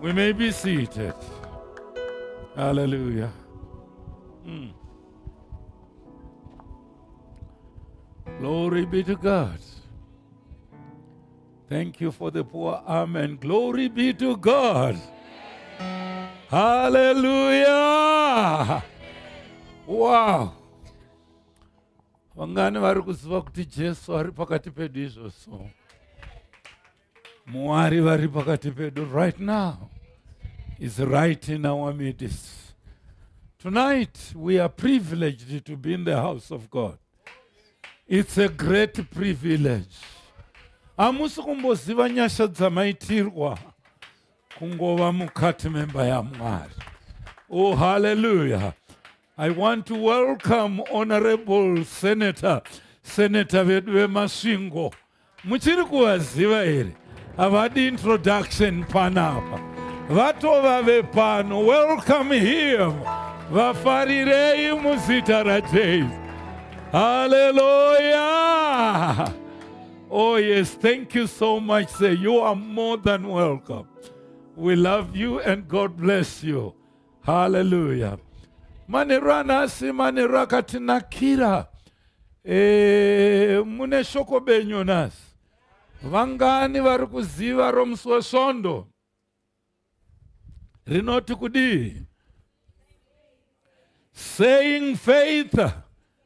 We may be seated. Hallelujah. Mm. Glory be to God. Thank you for the poor amen. Glory be to God. Hallelujah. Wow. Vangani vari kuziva kuti Jesu ari pakati pedu izvozvo. mwari vari pakati pedu right now is right in our midst tonight we are privileged to be in the house of god it's a great privilege hamusi kumboziva nyasha dzamaitirwa kungova mukati memba yamwari oh haleluya I want to welcome Honorable Senator, Senator vedu veMasvingo. Muchiri kuvaziva here? Havadi introduction panapa. Vatova vepano. Welcome him. Vafarirei muzita raJesu. Hallelujah. Oh yes, thank you so much sir. You are more than welcome. We love you and God bless you. haleluya manheru anhasi manheru akatinakira e, mune shoko benyu nhasi vangani vari kuziva romusi wesvondo rinoti kudii saying faith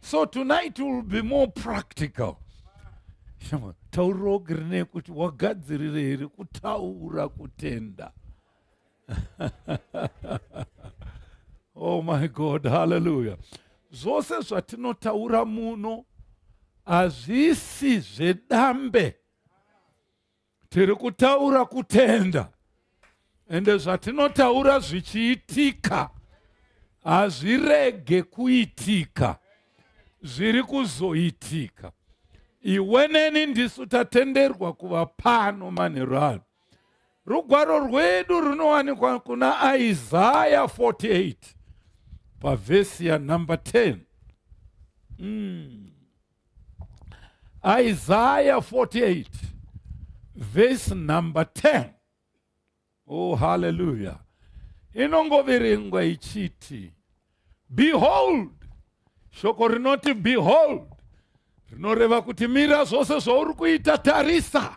so tonight will be more practical shama taurogi rine kuti wagadzirire here kutaura kutenda oh my god hallelujah zvose zvatinotaura muno hazvisi zvedambe tiri kutaura kutenda ende zvatinotaura zvichiitika hazvirege kuitika zviri kuzoitika iwe neni ndisu tatenderwa kuva pano manheru ano rugwaro rwedu runowanikwa kuna isaya 48 pavhesi yanumber 10 mm. Isaiah 48, verse number 10. Oh, hallelujah. Inongoverengwa ichiti, Behold, shoko rinoti behold rinoreva kuti mira zvose zvauri kuita tarisa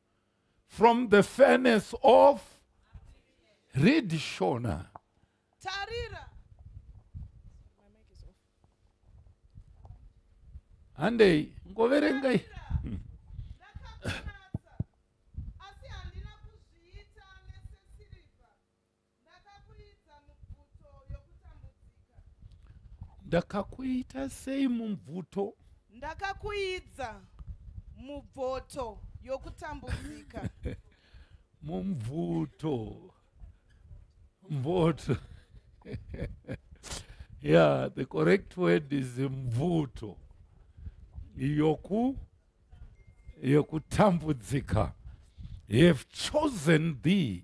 from the furnace of read shona tarira handei ngoverengai hmm. ndakakuita sei mubvuto ndakakuidza mubvoto yokutambudzika mumvuto mvoto yeah the correct word is mvuto yoku yokutambudzika he have chosen thee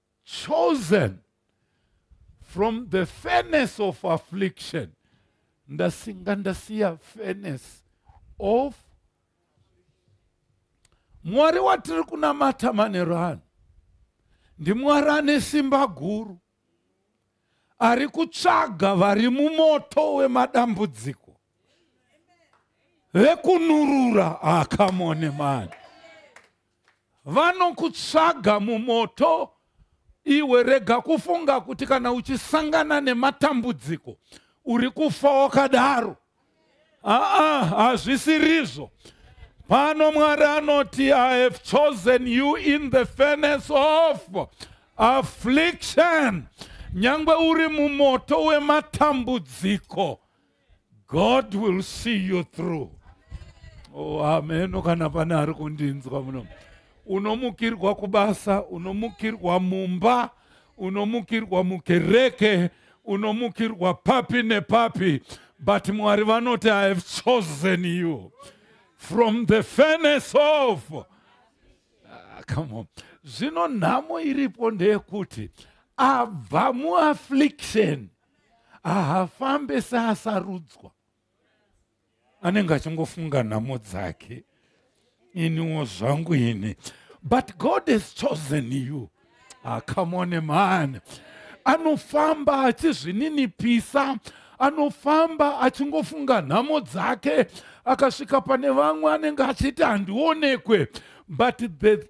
chosen from the furnace of affliction ndasinga ndasiya furnace of mwari watiri kunamata manero ano ndimwari ane simba guru ari kutsvaga vari mumoto wemadambudziko vekunurura akamone ah, mani vanokutsvaga mumoto iwe rega kufunga kuti kana uchisangana nematambudziko uri kufa wakadaro aa hazvisirizvo pano mwari anoti i have chosen you in the furnace of affliction nyange uri mumoto wematambudziko god will see you through oh, ameno kana pane ari kundinzwa muno unomukirwa kubasa unomukirwa mumba unomukirwa mukereke unomukirwa papi nepapi but mwari vanoti i have chosen you from the furnace of ah, come on zvino nhamo iripo ndeyekuti abva muaffliction haafambe seasarudzwa anenge achingofunga nhamo dzake iniwo zvangu ini but god has chosen you ah, come on a man anofamba achizvininipisa anofamba achingofunga nhamo dzake akasvika pane vamwe anenge achiti handionekwe but the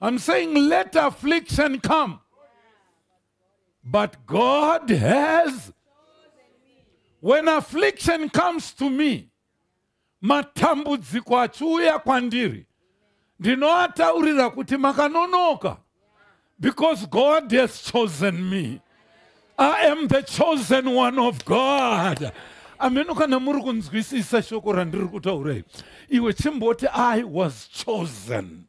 I'm saying let affliction come. But God has. When affliction comes to me, matambudziko achiuya kwandiri ndinoataurira kuti makanonoka Because God has chosen me. I am the chosen one of God. ameno kana muri kunzwisisa shoko randiri kutaura iri iwe chimboti i was chosen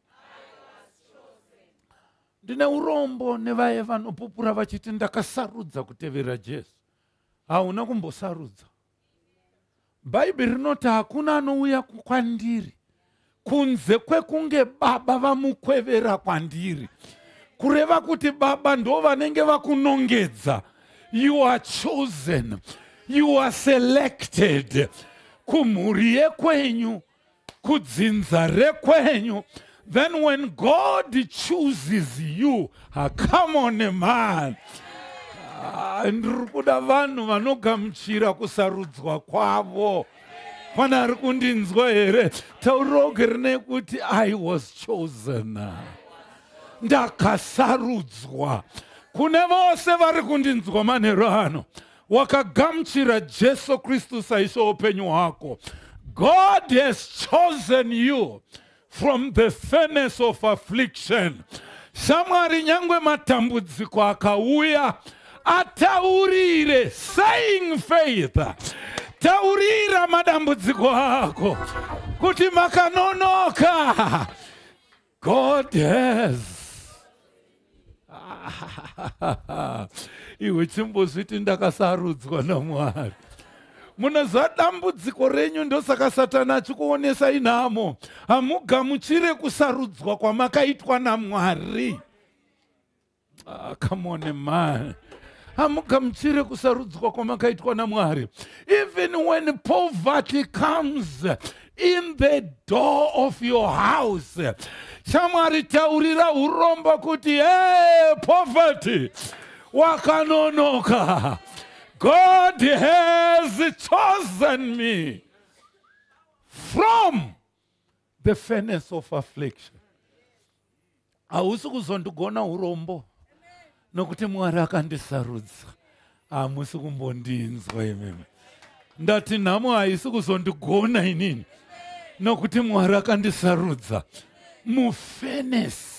ndine urombo nevaye vanopupura vachiti ndakasarudza kutevera jesu hauna kumbosarudza bhaibheri rinoti hakuna anouya kwandiri kunze kwekunge baba vamukwevera kwandiri kureva kuti baba ndo vanenge vakunongedza you are chosen you are selected kumhuri yekwenyu kudzinza rekwenyu then when god chooses you ah, come on a man ah, ndiri kuda vanhu vanogamuchira kusarudzwa kwavo pane ari kundinzwa here tauroge rine kuti i was chosen ndakasarudzwa kune vose vari kundinzwa manhero ano wakagamuchira jesu kristu saishe upenyu hwako god has chosen you from the furnace of affliction shamwari nyange matambudziko akauya ataurire saying faith taurira madambudziko ako kuti makanonoka God has iwe chimbozviti ndakasarudzwa namwari munoziva dambudziko renyu ndosaka satani achikuonesa inhamo hamugamuchire kusarudzwa kwamakaitwa namwari Ah, come on man hamugamuchire kusarudzwa kwamakaitwa namwari even when poverty comes in the door of your house chamwari taurira urombo kuti hey, poverty wakanonoka god has chosen me from the furnace of affliction hausi kuzondigona urombo nokuti mwari akandisarudza hamusi kumbondinzwa imimi ndati nhamo haisi kuzondigona inini nokuti mwari akandisarudza mufenesi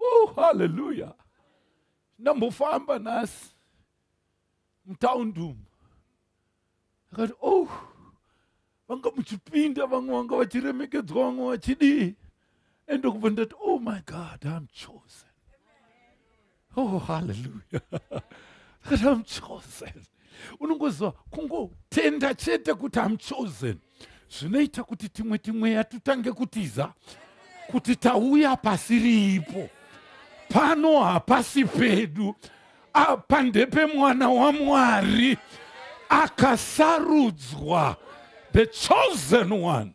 oh, haleluya ndambofamba nhasi mutaundum akati oh vanga muchipinda vamwe vanga vachiremekedzwa vamwe vachidii ende kubva ndati oh my god im chosen oh haleluya akati am chosen unongoziva kungotenda chete kuti am chosen zvinoita kuti timwe timweya tutange kutiza kuti tauya pasi riipo pano hapasi pedu apa ndepemwana wamwari akasarudzwa the chosen one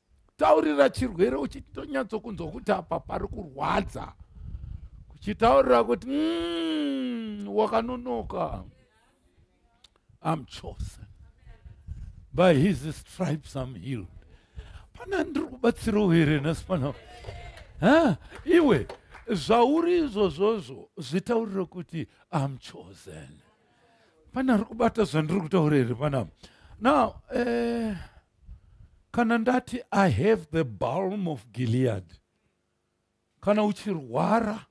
taurira chirwere uchitonyatsokunzwa kuti apa pari kurwadza kuchitaurira kuti mm, wakanonoka am chosen by his stripes am healed pana ndiri kubatsirawo here nhasi pana iwe zvauri izvozvozvo zvitaurira kuti am chosen pana ari kubata zvandiri kutaura here panapa now eh, kana ndati i have the balm of gilead kana uchirwara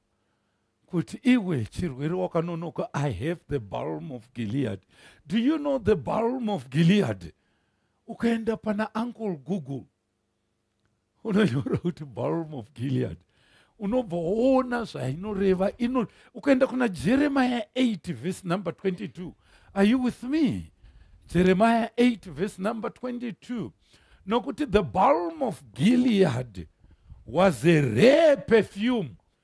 kuti iwe chirwere wakanonoka i have the balm of gilead do you know the balm of gilead ukaenda pana uncle google unonyora kuti balm of gilead unobva woona zvainoreva ino ukaenda kuna jeremiya 8 vhesi number 22 are you with me jeremiya 8 vhesi number 22 nokuti the balm of gilead was a rare perfume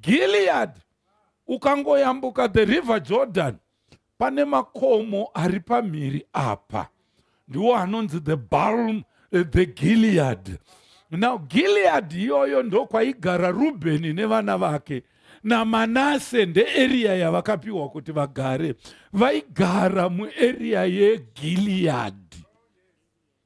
gilead ukangoyambuka the river jordan pane makomo ari pamhiri apa ndiwo anonzi the balm eh, the gilead now gilead iyoyo ndokwaigara rubheni nevana vake namanase ndeeriya yavakapiwa kuti vagare vaigara mueriya yegilead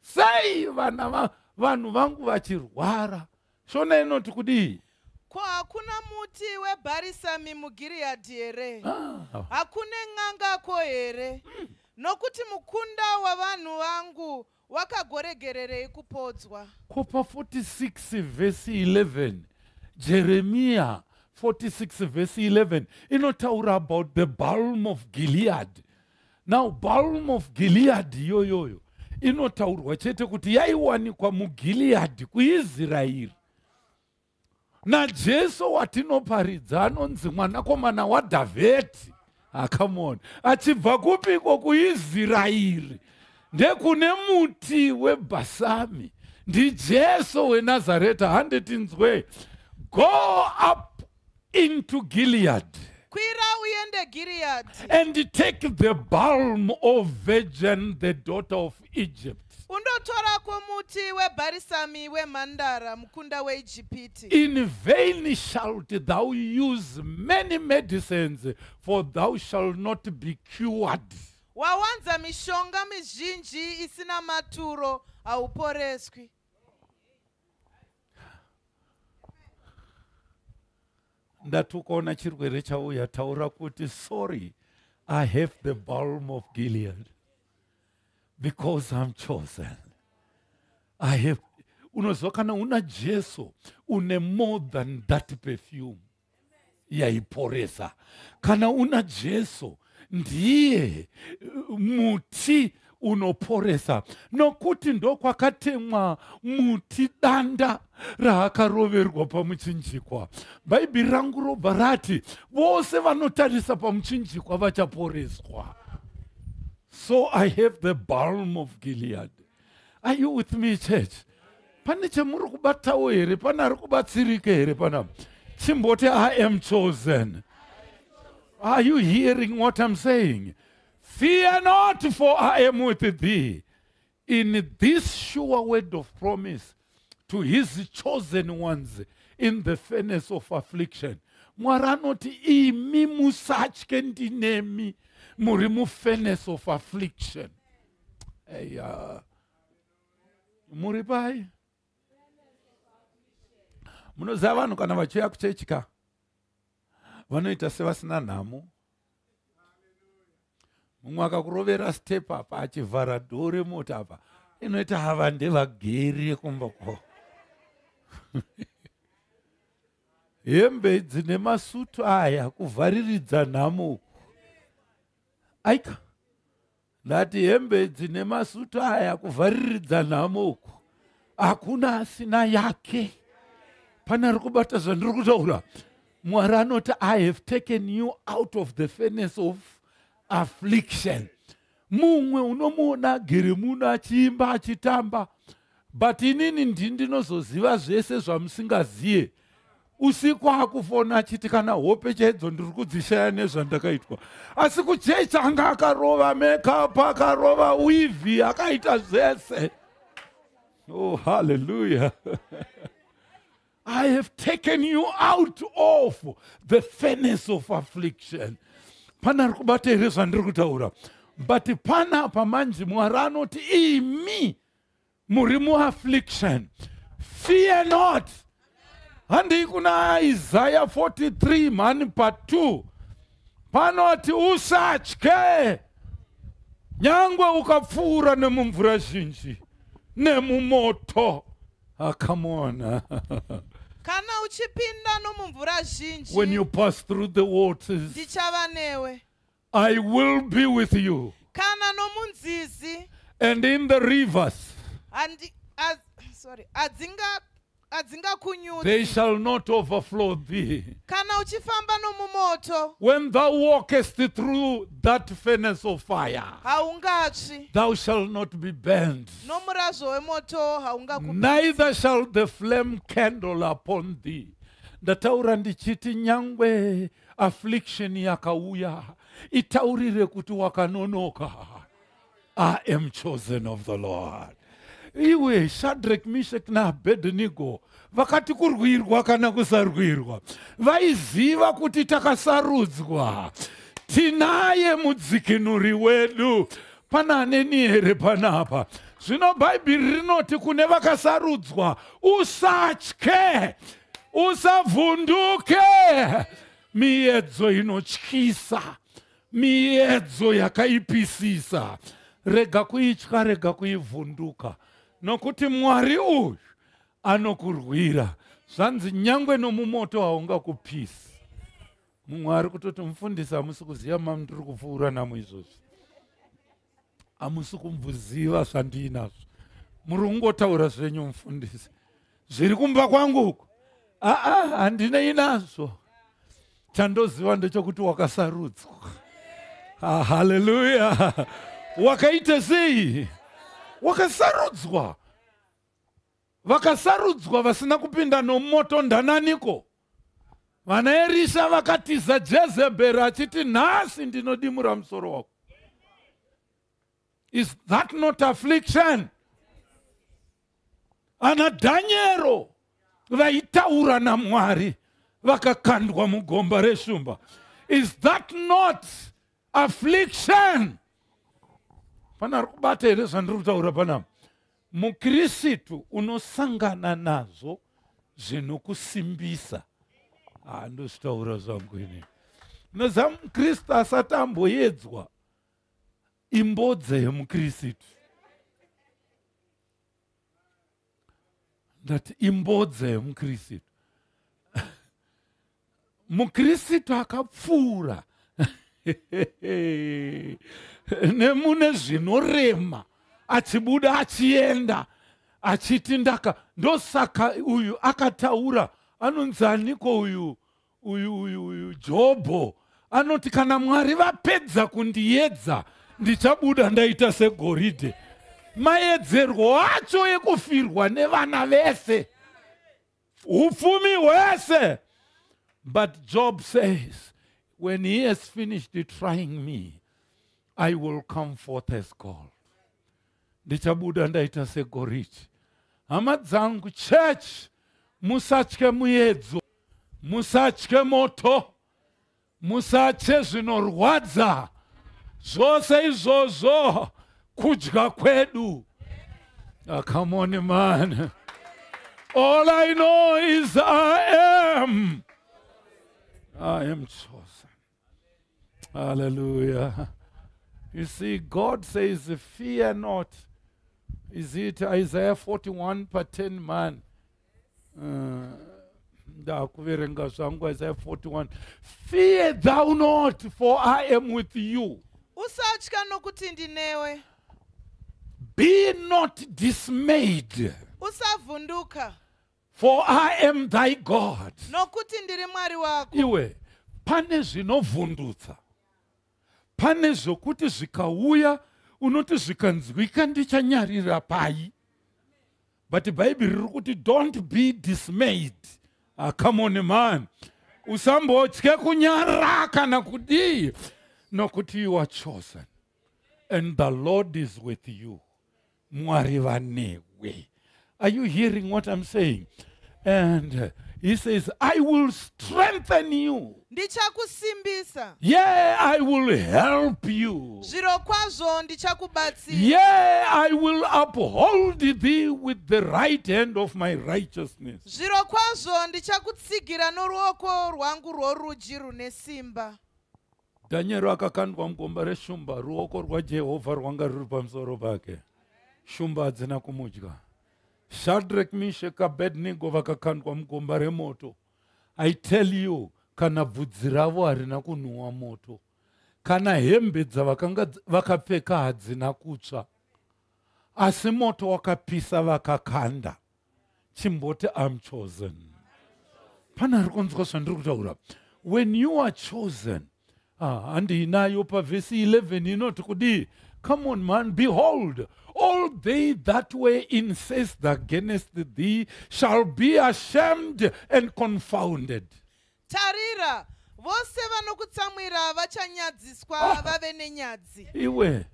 sei vana va, vanhu vangu vachirwara shona inoti kudii ko hakuna muti webharisami mugiriyadhi here ah. hakune n'angako here mm. nokuti mukunda wavanhu vangu wakagoregererei kupodzwa ko pa 46 vhesi 11 jeremiya 46 vhesi 11 inotaura about the balm of gilead now balm of gilead iyoyoyo inotaurwa chete kuti yaiwanikwa mugilead kuisraeri najesu watinoparidza anonzi mwanakomana wadhavheti akamona ah, achibva kupiko kuisraeri ndekune muti webhasami ndijesu wenazareta handetinzwe go up into Gilead. Kwira uende Gilead. And take the balm of virgin, the daughter of Egypt. Undotora kwomuti webarisami wemhandara mukunda weIjipiti. In vain shalt thou use many medicines, for thou shalt not be cured. Wawanza mishonga mizhinji isina maturo, hauporeswi. ndati ukaona chirwere chauya taura kuti sorry i have the balm of gilead because i'm chosen i have unoziva kana una jesu une more than that perfume yaiporesa kana una jesu ndiye uh, muti unoporesa nokuti ndokwakatemwa muti danda raakaroverwa pamuchinjikwa bhaibheri rangu robva rati vose vanotarisa pamuchinjikwa vachaporeswa so i have the balm of gilead are you with me church pane chemuri kubatawo here pane ari kubatsirike here pana chimboti i am chosen are you hearing what i'm saying fear not for i am with thee in this sure word of promise to his chosen ones in the furnace of affliction mwari anoti imi musatye ndinemi muri mufurnace of affliction eya muri pai munoziva vanhu kana vachiuya kuchechi ka vanoita sevasina nhamo mumwe akakurovera step apa achivhara dhoo remota apa inoita hava ndevageri yekumba kwavo hembe dzine masutu aya kuvhariridza nhamo aika ndati hembe dzine masutu aya kuvhariridza nhamo uku hakuna asina yake pane ari kubata zvandiri kutaura mwari anoti i have taken you out of the furnace of affliction mumwe unomuona agere muno achiimba achitamba but inini ndii ndinozoziva zvese zvamusingazive usiku akufona achiti kana hope chaidzo ndiri kudzishaya nezvandakaitwa asi kuchechi anga akarova makeup akarova wivi akaita zvese oh halleluya i have taken you out of the furnace of affliction pana ari kubata here zvandiri kutaura but pana apa manji mwari anoti imi muri muaffliction fear not handii kuna isaya 43 mhani pa2 panoti usatye nyangwe ukapfuura nemumvura zhinji nemumoto akamona ah, kana uchipinda nomumvura zhinji when you pass through the waters ndichava newe I will be with you. kana nomunzizi And in the rivers, handi- a- sorry, adzinga- adzingakunyudzi they shall not overflow thee. kana uchifamba nomumoto When thou walkest through that furnace of fire, haungatsvi thou shalt not be burned, nomurazvo wemoto haungaku neither shall the flame kindle upon thee. Ndataura ndichiti nyangwe affliction yakauya itaurire kuti wakanonoka i am chosen of the lord iwe shadrek mishek naabedenigo vakati kurwirwa kana kusarwirwa vaiziva kuti takasarudzwa tinaye mudzikinuri wedu pana aneni here panapa zvino bhaibheri rinoti kune vakasarudzwa usatye usavhunduke miyedzo inotyisa miyedzo yakaipisisa rega kuitya rega kuivhunduka nokuti mwari uyu anokurwira zvanzi nyangwe nomumoto haungakupisi mumwe ari kutoti mufundisi hamusi kuziva mamndiri kupfuura namo izvozvi hamusi kumbuziva zvandiinazvo muri kungotaura zvenyu mufundisi zviri kumba kwangu uku aa handinei nazvo chandoziva ndechokuti wakasarudzwa ah, haleluya wakaita sei wakasarudzwa Vakasarudzwa vasina kupinda nomoto ndananiko? Vanaerisha vakatiza Jezeberi achiti nhasi ndinodimura musoro wako. Is that not affliction? Ana Dhanyero vaitaura naMwari vakakandwa mugomba reshumba. Is that not affliction? Pana ari kubata here zvandiri kutaura panapa? mukirisitu unosangana nazvo zvinokusimbisa handozvitaura ah, zvangu ini noziva mukristu asati amboyedzwa imbodze yemukirisitu ndati imbodze yemukirisitu mukristu akapfuura nemune zvinorema achibuda achienda achiti ndaka ndosaka uyu akataura anonzi aniko uyu uyu uyu uyu jobho anoti kana mwari vapedza kundiyedza ndichabuda ndaita segoridhe mayedzerwo acho ekufirwa nevana vese upfumi hwese but job says when he has finished trying me i will come forth as gold ndichabuda ndaita segoridhe hama dzangu church musatye muedzo musatye moto Musatye zvinorwadza zvose izvozvo kudya kwedu. Ah, come on man. All I know is I am. I am chosen. Hallelujah. You see, God says, Fear not. Is it Isaiah 41 per 10 man? uh, ndakuverenga zvangu isaya 41 fear thou not for i am with you usatya nokuti ndinewe be not dismayed usavhunduka for i am thy god nokuti ndiri mwari wako iwe pane zvinovhundutsa pane zvokuti zvikauya unoti zvikanzwika ndichanyarira pai but bhaibheri riri kuti don't be dismayed ah, come on man usambotye kunyara kana kudii nokuti you are chosen and the lord is with you mwari vanewe are you hearing what i'm saying and he says i will strengthen you ndichakusimbisa yeah i will help you zviro kwazvo ndichakubatsira yeah i will uphold thee with the right hand of my righteousness zviro kwazvo ndichakutsigira noruoko rwangu rworudyi rune simba dhanyero akakandwa mugomba reshumba ruoko rwajehovha rwanga ruri pamusoro pake shumba hadzina kumudya Shadrach, Meshach, Abednego vakakandwa mugomba remoto. I tell you, kana bvudzi ravo harina kunhuwa moto, kana hembe dzavakanga vakapfeka hadzina kutsva, asi moto wakapisa vakakanda. Chimboti I'm chosen. Pana ari kunzwa zvandiri kutaura. When you are chosen, ah, handiinayo pavhesi 11 inoti kudii come on man behold all they that were incensed against thee shall be ashamed and confounded tarira vose vanokutsamwira vachanyadziswa ah. vave nenyadzi iwe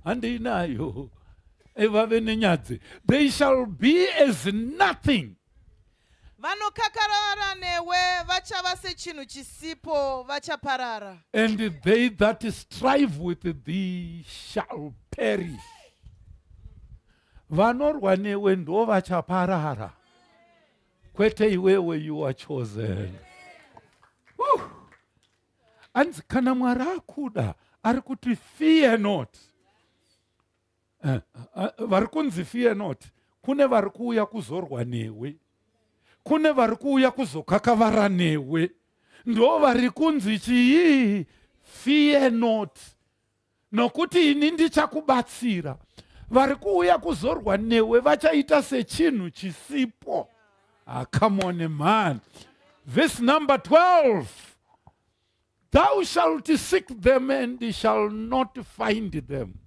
handiinayo eh, vave nenyadzi they shall be as nothing Vanokakarara newe vachava sechinhu chisipo vachaparara. And they that strive with thee shall perish. Vanorwa newe ndo vachaparara. Kwete iwewe you are chosen. Uh. Anzi kana Mwari akuda ari kuti fear not. eh, eh, vari kunzi fear not kune vari kuuya kuzorwa newe kune vari kuuya kuzokakavara newe ndo vari kunzi chii fear not nokuti ini ndichakubatsira vari kuuya kuzorwa newe vachaita sechinhu chisipo akamone ah, mhani vhesi number 12 Thou shalt seek them and shall not find them.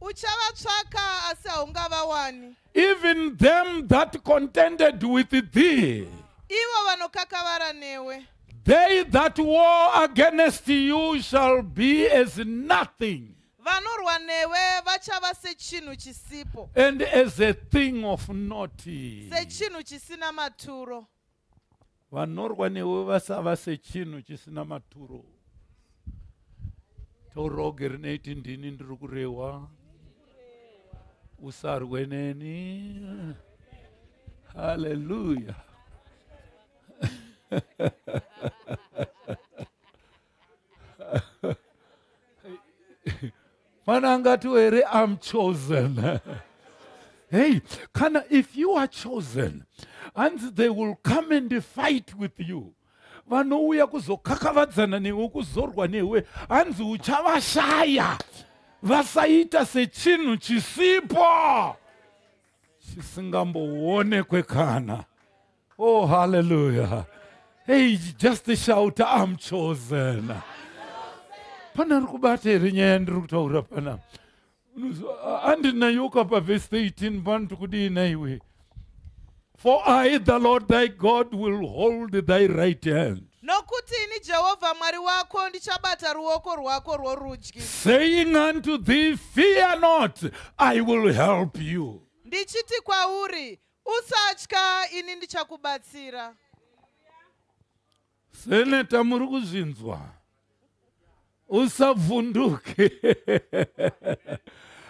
Uchavatsvaka asi haungavawani. Even them that contended with thee. Ivo vanokakavara newe. They that war against you shall be as nothing. vanorwa newe vachava sechinhu chisipo and as a thing of not sechinhu chisina maturo vanorwa newe vasava sechinhu chisina maturo toroge rinoiti ndini ndiri kurehwa usarwe neni haleluya mwana angatiwo here im chosen hey kana if you are chosen hanzi they will come and fight with you vanouya kuzokakavadzana newe kuzorwa newe hanzi uchavashaya vasaita sechinhu chisipoo chisingamboonekwe kana Oh, hallelujah. Hey, just shout, I'm chosen. Pana ari kubata here nyaya yandiri kutaura pana? Andinayoka pa verse 18 pano tikudii naiwe. For I, the Lord thy God, will hold thy right hand. nokuti ini jehovha mwari wako ndichabata ruoko rwako rworudyi Saying unto thee, Fear not, I will help you. ndichiti kwauri Usatya, ini ndichakubatsira. Seneta muri kuzvinzwa. Usavhunduke.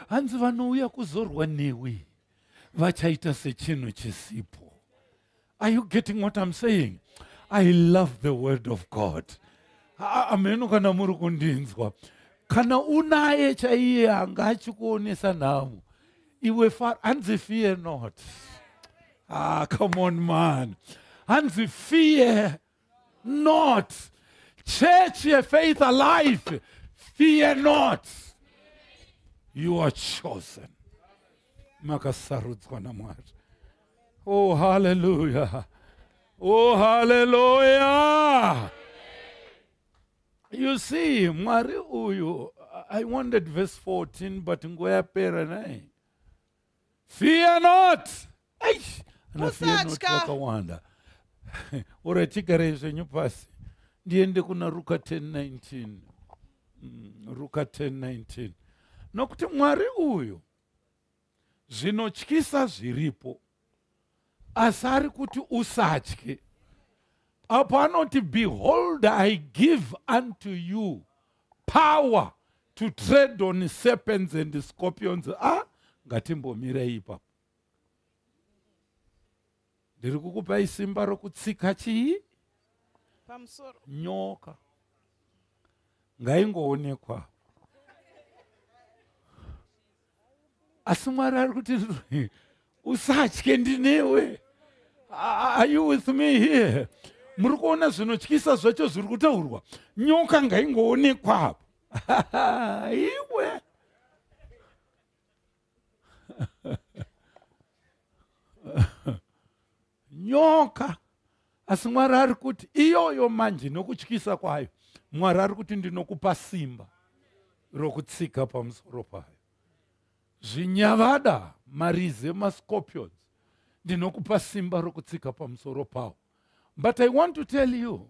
Hanzi vanouya kuzorwa newe vachaita sechinhu chisipo. Are you getting what I'm saying? I love the word of God. Ameno kana muri kundinzwa. Kana unaye chaiye anga achikuonesa nhamo. iwe faro hanzi fear not ah come on man hanzi fear not church yefaith alive fear not you are chosen makasarudzwa namwari oh haleluya oh haleluya you see mwari uyu i wanted verse 14 but nguva yapera nai fear not eish ana fear not vakawanda ora chigarei zvenyu pasi ndiende kuna ruka 1019 mm, ruka 1019 nokuti mwari uyu zvinotyisa zviripo asi ari kuti usatye apo anoti behold i give unto you power to trade on serpents and scorpions a ah, ngatimbomirei ipapo ndiri kukupai simba rokutsika chii pamusoro nyoka ngaingoonekwa asi mwari ari kuti usatye ndinewe are you with me here muri kuona zvinotyisa zvacho zviri kutaurwa nyoka ngaingoonekwa apo iwe nyoka asi mwari ari kuti iyoyo manje nokutyisa kwayo mwari ari kuti ndinokupa simba rokutsika pamusoro payo zvinyavada marize mascorpions ndinokupa simba rokutsika pamusoro pawo but i want to tell you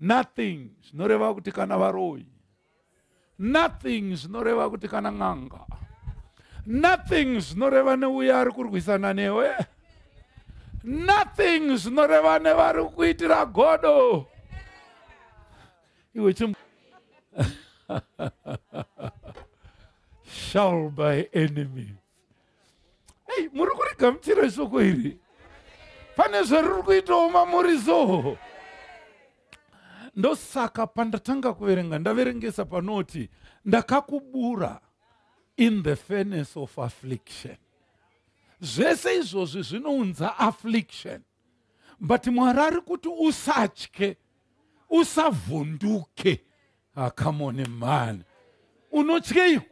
nothing zvinoreva kuti kana varoyi nothing zvinoreva kuti kana n'anga nothing zvinoreva neuye ari kurwisana newe nothing zvinoreva nevari kuitira godo iwe chim shall by enemy ei muri kurigamuchira ishoko iri pane zvariri kuitawo mamuri so ndosaka pandatanga kuverenga ndaverengesa panoti ndakakubura in the furnace of affliction zvese izvozvi zvinounza affliction but mwari ari kuti usatye usavhunduke akamone ah, mani unotyeiko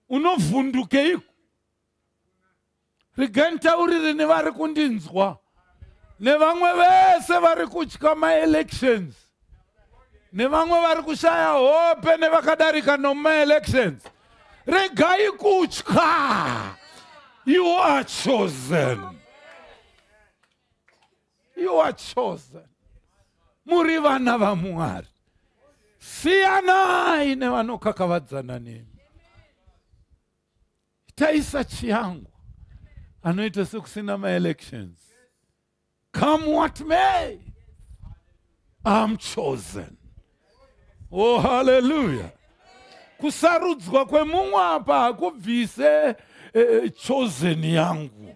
unovhundukeiko regai nditaurire nevari kundinzwa nevamwe vese vari kutya maelections nevamwe vari kushaya hope nevakadarika nomaelections regai kutya you are chosen you are chosen muri vana vamwari siyanai nevanokakavadzana nemi itai sachi yangu anoita sekusina maelections come what may I'm chosen. Oh, hallelujah. Kusarudzwa kwemumwe apa hakubvise eh, chosen yangu.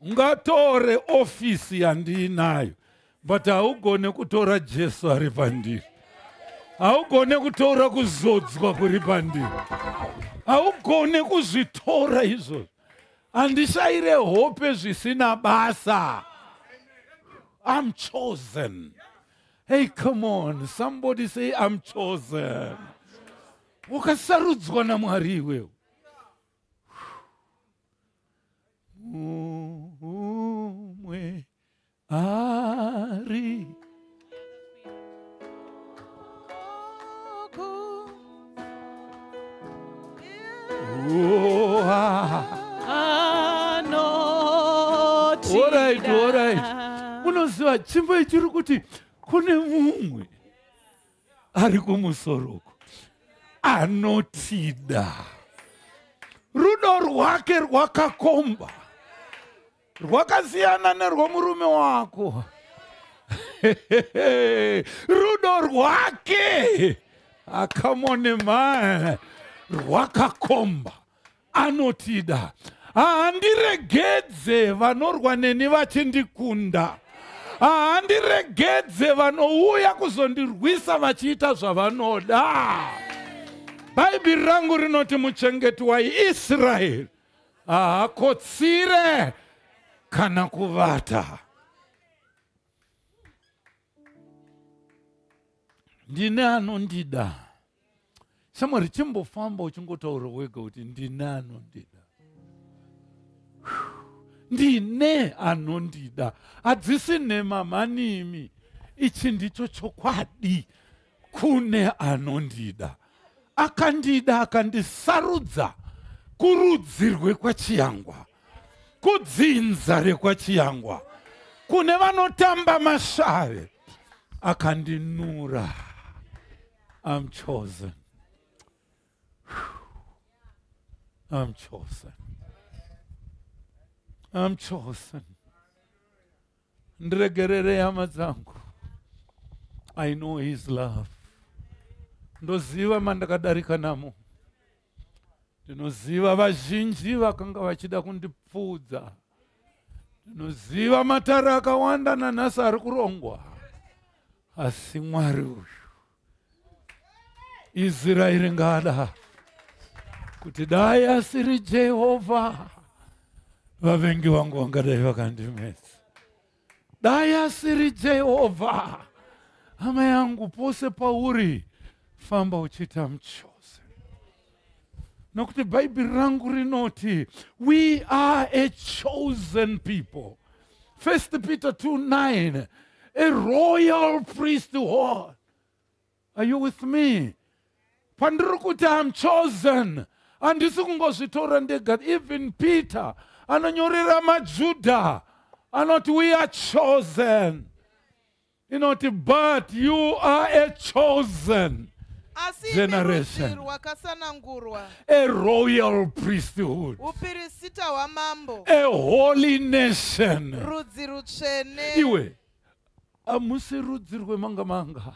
Ungatore office yandinayo but haugone kutora Jesu ari pandiri. Haugone kutora kuzodzwa kuri pandiri. Haugone kuzvitora izvozvo. handishaire hope zvisina basa i'm chosen hey come on somebody say i'm chosen wakasarudzwa namwari iwewo umwe Ari. Oh, ah. All right, all right. Munoziva chimbo ichiri kuti kune mumwe ari kumusoro uko anotida rudo rwake rwakakomba rwakasiyana nerwomurume wako rudo rwake akamone ah, mani rwakakomba anotida handiregedze vanorwa neni vachindikunda handiregedze vanouya kuzondirwisa vachiita zvavanoda bhaibheri rangu rinoti muchengeti waisraeri haakotsire kana kuvata ndine anondida shamwari chimbofamba uchingotaura wega kuti ndine anondida ndine anondida hadzisi nhema mhanimi ichi ndicho chokwadi kune anondida akandida akandisarudza kurudzi rwekwachiyangwa kudzinza rekwachiyangwa kune vanotamba mashave akandinura I'm chosen. I'm chosen. I'm chosen. ndiregerere hama dzangu i know his love ndoziva mandakadarika namo ndinoziva vazhinji vakanga vachida kundipfuudza ndinoziva matare akawanda nanhasi ari kurongwa asi mwari uyu israeri ngada kuti dai asiri jehovha vavengi vangu vangadai vakandimedza dai asiri jehovha hama yangu pose pauri famba uchiita muchozi nokuti bhaibheri rangu rinoti we are a chosen people first peter 29 a royal priesthood are you with me pandiri kuti am chosen handisi kungozvitora ndega even peter anonyorera majudha anoti we are chosen inoti but you are a chosen asi generation rwakasanangurwa a royal priesthood upirisita hwamambo a holy nation rudzi rutsvene iwe hamusi rudzi rwemanga manga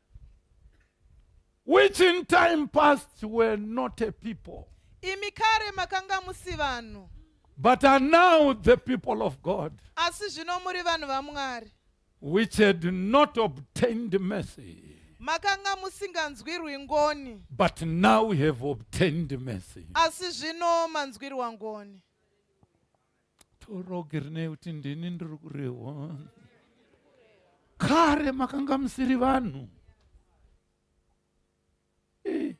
which in time past were not a people imi kare makanga musi vanhu but are now the people of god asi zvino muri vanhu vamwari which had not obtained mercy makanga musinganzwirwi ngoni but now have obtained mercy asi zvino manzwirwa ngoni torogi rine kuti ndini ndiri kurehwa kare makanga musiri vanhu eh.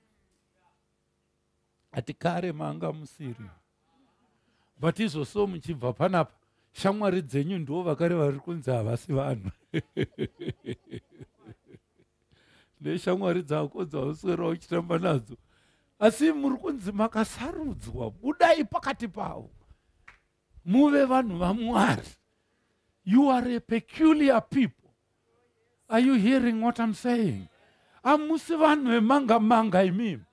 ati kare manga musiri but izvo so muchibva panapa shamwari dzenyu ndiwo vakare vari kunzi havasi vanhu neshamwari dzako dzauswera uchitamba nadzo asi muri kunzi makasarudzwa budai pakati pavo muve vanhu vamwari you are a peculiar people are you hearing what i'm saying amusi vanhu vemanga manga imimi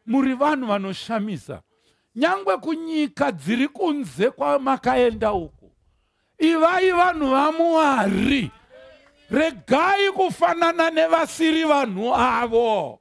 muri vanhu vanoshamisa nyangwe kunyika dziri kunze kwamakaenda uko ivai vanhu vamwari regai kufanana nevasiri vanhu avo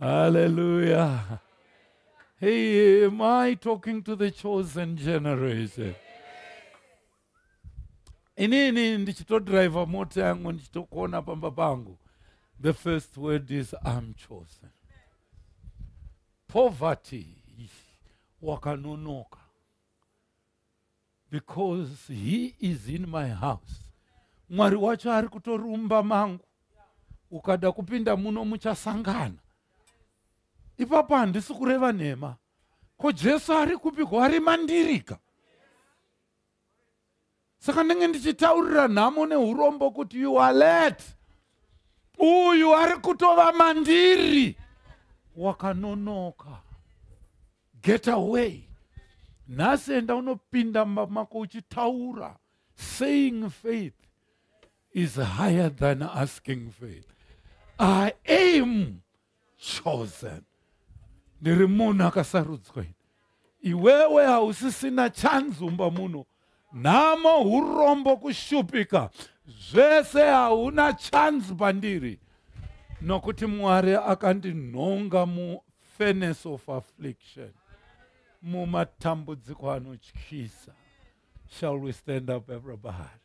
Hallelujah. Hey, am I talking to the chosen generation? inini ndichitodriver mota yangu ndichitokona pamba pangu the first word is am chosen poverty wakanonoka because he is in my house mwari wacho ari kutorumba mangu ukada kupinda muno muchasangana ipapo handisi kureva nhema ko jesu ari kupi ko ari mandirika saka ndenge ndichitaurira nhamo neurombo kuti you are let uyu ari kutova mandiri wakanonoka get away nhasi enda unopinda mumba mako uchitaura saying faith is higher than asking faith i am chosen ndiri munhu akasarudzwa iwewe hausisina chanzumba muno nhamo urombo kushupika zvese hauna chance pandiri nokuti mwari akandinhonga mufenes of affliction mumatambudziko anotyisa shall we stand up everybody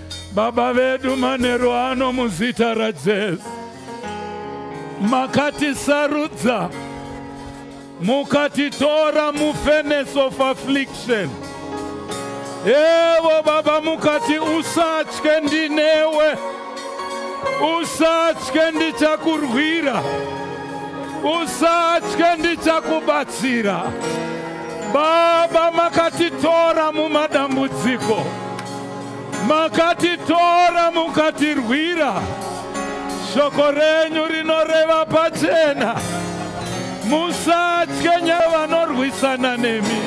Baba vedu manheru ano muzita raJesu makatisarudza mukatitora mufenes of affliction evo baba mukati usatye ndinewe usatye ndichakurwira usatye ndichakubatsira baba makatitora mumadambudziko Makatitora mukatirwira, shoko renyu rinoreva pachena. Musatye nyaya vanorwisana nemi,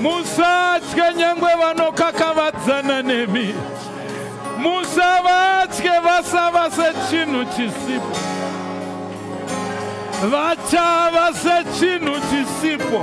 musatye nyangwe vanokakavadzana nemi, musavatye vasava sechinhu chisipo, vachava sechinhu chisipo.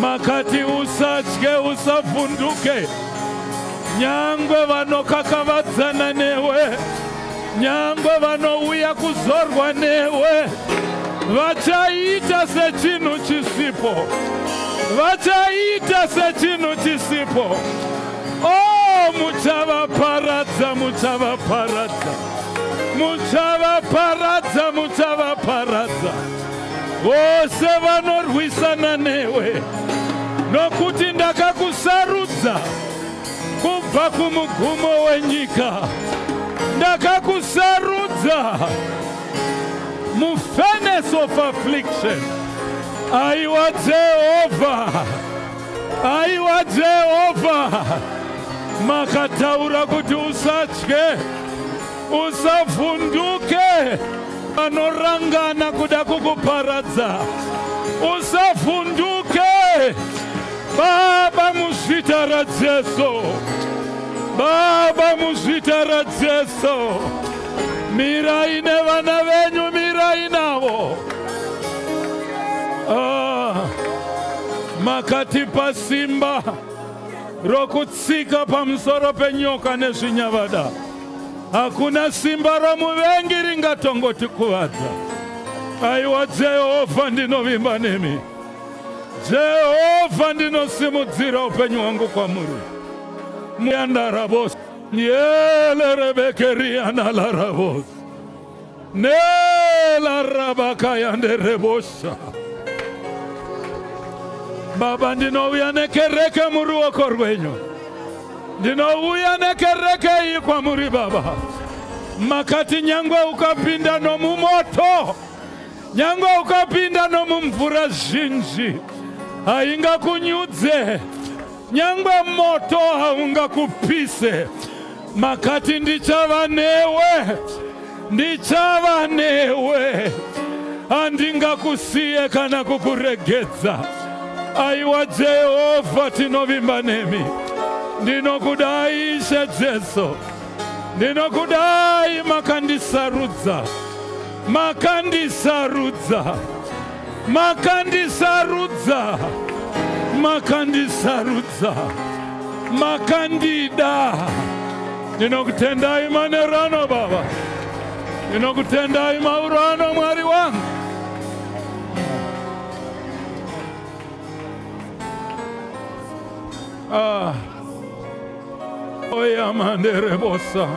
makati usatye usavhunduke nyangwe vanokakavadzana newe nyangwe vanouya kuzorwa newe vachaita sechinhu chisipo vachaita sechinhu chisipo o oh, muchavaparadza muchavaparadza muchavaparadza muchavaparadza vose vanorwisana newe nokuti ndakakusarudza kubva kumugumo wenyika ndakakusarudza mufurnace of affliction aiwa jehovha aiwa jehovha makataura kuti usatye Usavhunduke vanorangana kuda kukuparadza. Usavhunduke Baba muzvita raJesu. Baba muzvita raJesu. Mirai nevana venyu mirai navo. Ah, makatipa simba rokutsika pamusoro penyoka nezvinyavada. hakuna simba romuvengi ringatongotikuvadza aiwa jehovha ndinovimba nemi jehovha ndinosimudzira upenyu hwangu kwamuri muyandarabos yelerebekerianalarabos Nela rabakaya nderebosha. Baba ndinouya nekereke muruoko rwenyu. Ndinouya nekereke iyi kwamuri baba. Makati nyangwe ukapinda nomumoto. Nyangwe ukapinda nomumvura zhinji. Haingakunyudze. nyangwe moto haungakupise makati ndichava newe ndichava newe handingakusiye kana kukuregedza aiwa jehovha tinovimba nemi ndinokudai ishe jesu ndinokudai makandisarudza makandisarudza makandisarudza makandisarudza makandida ndinokutendai manero ano baba ndinokutendai mauro ano mwari wangu ah. oyamanderebosa oh,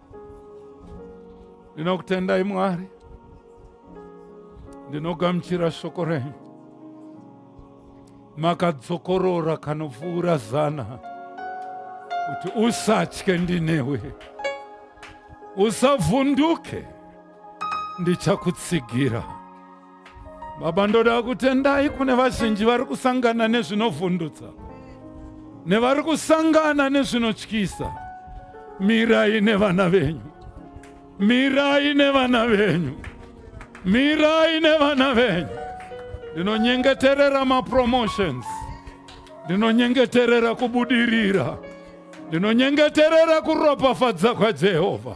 ndinokutendai mwari ndinogamuchira shoko renyu makadzokorora kanopfuura zana kuti usatye ndinewe usavhunduke ndichakutsigira baba ndoda kutendai kune vazhinji vari kusangana nezvinovhundutsa nevari kusangana nezvinotyisa mirai nevana venyu mirai nevana venyu mirai nevana venyu ndinonyengeterera mapromotions ndinonyengeterera kubudirira ndinonyengeterera kuropafadza kwajehovha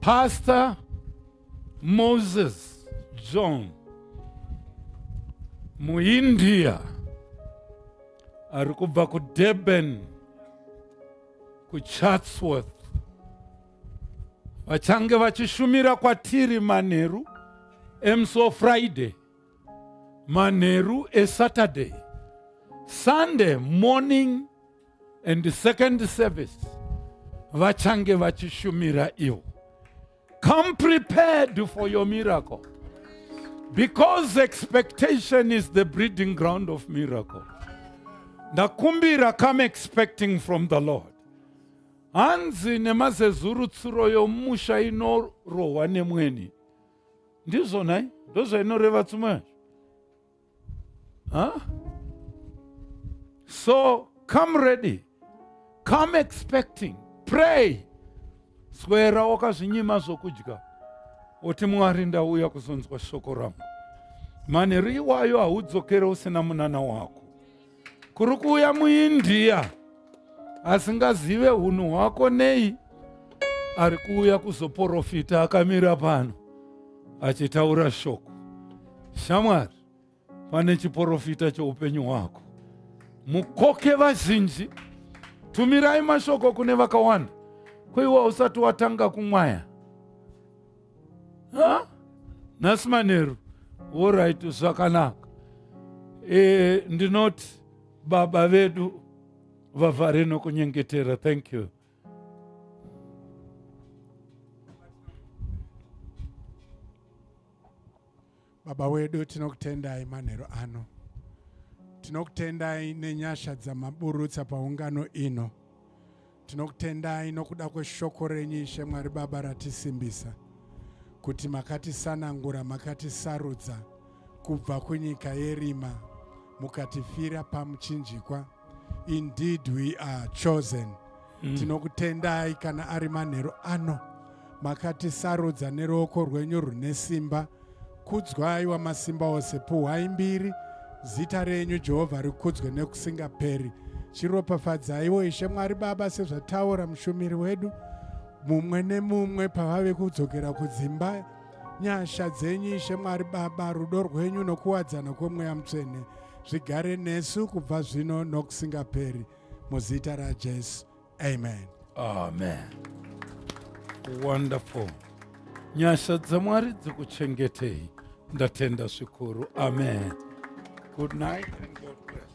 Pastor Moses John muIndia ari kubva kuDurban kuChatsworth vachange vachishumira kwatiri manheru emusi wefriday manheru esaturday sunday morning and the second service vachange vachishumira ivo come prepared for your miracle because expectation is the breeding ground of miracle ndakumbira come expecting from the lord hanzi nemazezuru tsuro yomusha inorohwa nemweni ndizvo nhai ndozvainoreva tsumwe Huh? So come ready, come expecting, pray. Swera wakazvinyima zvokudya oti Mwari ndauya kuzonzwa shoko rangu. Manheru iwayo haudzokere usina munana wako. kuri kuuya muindia asingazive hunhu hwako nei ari kuuya kuzoporofita akamira pano achitaura shoko shamwari pane chiporofita choupenyu hwako mukoke vazhinji tumirai mashoko kune vakawanda kuiwa usati watanga kumwaya ha nhasi manheru orit zvakanaka e, ndinoti baba vedu vavhare nokunyengetera thank you baba wedu tinokutendai manheru ano tinokutendai nenyasha dzamaburutsa paungano ino tinokutendai nokuda kweshoko renyu ishe mwari baba ratisimbisa kuti makatisanangura makatisarudza kubva kunyika yerima mukatifira pamuchinjikwa indeed we are chosen mm. tinokutendai kana ari manheru ano makatisarudza neruoko rwenyu rune simba kudzwai wamasimba ose puhwai mbiri zita renyu jehovha rikudzwe nekusingaperi chiropafadzaiwo ishe mwari baba sezvataura mushumiri wedu mumwe nemumwe pavave kudzokera kudzimba nyasha dzenyu ishe mwari baba rudo rwenyu nokuwadzana kwemweya mutsvene zvigare nesu kubva zvino nokusingaperi muzita rajesu amen amen wonderful nyasha dzamwari dzikuchengetei ndatenda zvikuru amen good night and God bless.